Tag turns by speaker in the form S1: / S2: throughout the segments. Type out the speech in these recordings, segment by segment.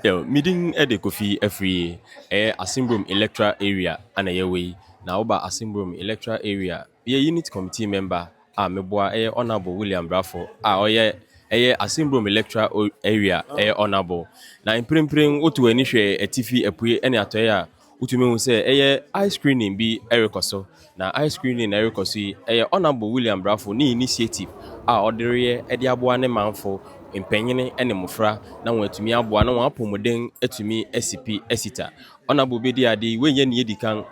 S1: Well, me din de Kofi Afriyie. Ɛyɛ Asemburom Electoral Area na yɛwɔ yi. Na woba Asemburom Electoral Area, meyɛ Unit Committee Member a meboa ɛyɛ Honourable William Brafo a ɔyɛ ɛyɛ Asemburom Electoral Area ɛyɛ Honourable. Na mprempren woto w'ani hwɛ atifi, apuei ne atɔeɛ a, Wotumi hu sɛ ɛyɛ ice screening bi rekɔ so, na ice screening na ɛrekɔ so yi, ɛyɛ Honourable William Brafo ne initiative a ɔde reyɛ de aboa ne manfo, mpanyin ne mmofra na wɔatumi aboa na wɔn apɔmuden atumi asi pi asi ta. Honourable bedi ade, wei nyɛ nea edi kan,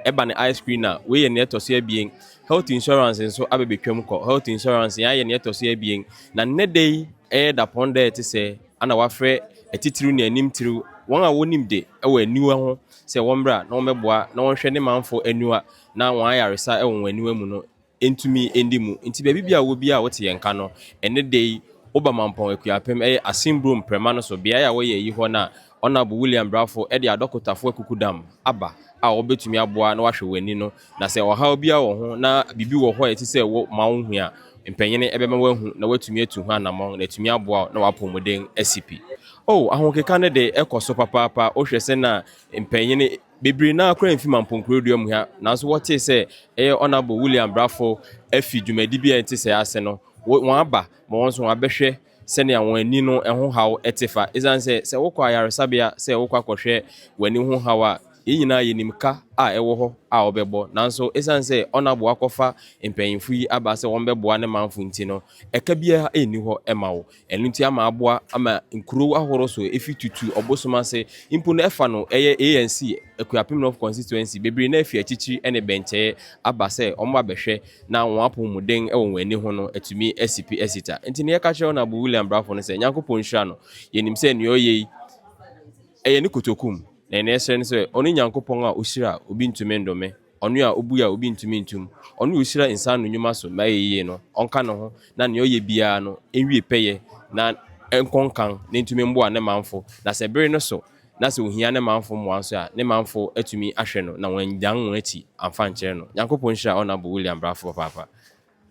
S1: ɛba no ice screen a, wei yɛ nea ɛtɔ so abien. Health insurance nso abɛbɛtwam kɔ, health insurance yɛayɛ nea ɛtɔ so abien, na nnɛ da yi, ɛyɛ dapɔn da a ɛte sɛ. Ana wɔafrɛ atitiriw ne anim tiriw wɔn a wonim de wɔ aniwa ho sɛ wɔmmra na wɔmmɛboa na wɔnhwɛ ne manfo aniwa na wɔn ayaresa wɔ wɔn aniwa mu no ntumi ndi mu. Nti baabi biara a wowɔ biara a wote yɛn nka no ɛnnɛ da yi wo Bamampɔn Akuapem ɛyɛ Asin Burom Prɛma no so beae a wɔyɛ ayi hɔ na Honourable William Brafo de adɔkotafo akukudam aba a wɔbɛtumi aboa na wɔahwɛ w'ani no Na sɛ ɔhaw biara wɔ ho na biribi wɔ hɔ a ɛte sɛ wo ma wo hu a, mpanyin bɛma woahu na wɔatumi atu ho anammɔn na atumi aboa wo na w'apɔwmuden asi pi. O, ahokeka no de, ɛkɔ so papaapa. Wohwɛ sɛ na mpanyin bebree no ara koraa mfi Mamponkorodua mu ha, nanso wɔtee sɛ ɛyɛ Honourable William Brafo afi dwumadi bi a ɛte sɛɛ ase no, wɔaba ma wɔn nso wɔabɛhwɛ sɛnea wɔn ani no ho haw te fa. Esiane sɛ sɛ wokɔ ayaresabea sɛ wokɔ akɔhwɛ w'ani ho haw a, yɛn nyinaa yenim ka a ɛwɔ hɔ a wɔbɛbɔ. Nanso esiane sɛ Onabo akɔfa mpanyimfo yi aba sɛ wɔbɛboa ne manfo nti no, ɛka biara nni hɔ ma wo. Ɛno nti ama aboa ma nkurow ahorow so efi Tutu ɔbosom ase mpo no ɛfa no ɛyɛ ANC Akuapem North Constituency bebree no afi akyirikyiri ne bɛnkyɛe aba sɛ wɔabɛhwɛ na wɔn apɔwmuden wɔ wɔn ani ho no atumi asi pi asi ta. Enti nea yɛka kyerɛ Ɔnabɔ William Brafo ne sɛ, Nyankopɔn nhyira no, yɛnim sɛ nea ɔyɛ yi, ɛyɛ ne kotoku mu, na nea ɛsrɛ ne sɛ, ɔno Nyankopɔn a ɔhyira a obi ntumi ndome, ɔno a ɔbue a obi ntumi ntum, ɔno a ɔhyira nsa ano nnwuma so ma ɛyɛ yie no, ɔnka ne ho, na nea ɔyɛ biara no nwie pɛyɛ, na ɛnkɔ nkan, na ɛntumi mboa ne manfo, na sɛ bere no so, na sɛ ohia ne manfo mmoa nso a, ne manfo atumi ahwɛ no na wɔannyan wɔn akyi amfa ankyerɛ no. Nyankopɔn nhyira Honourable William Brafo papaapa.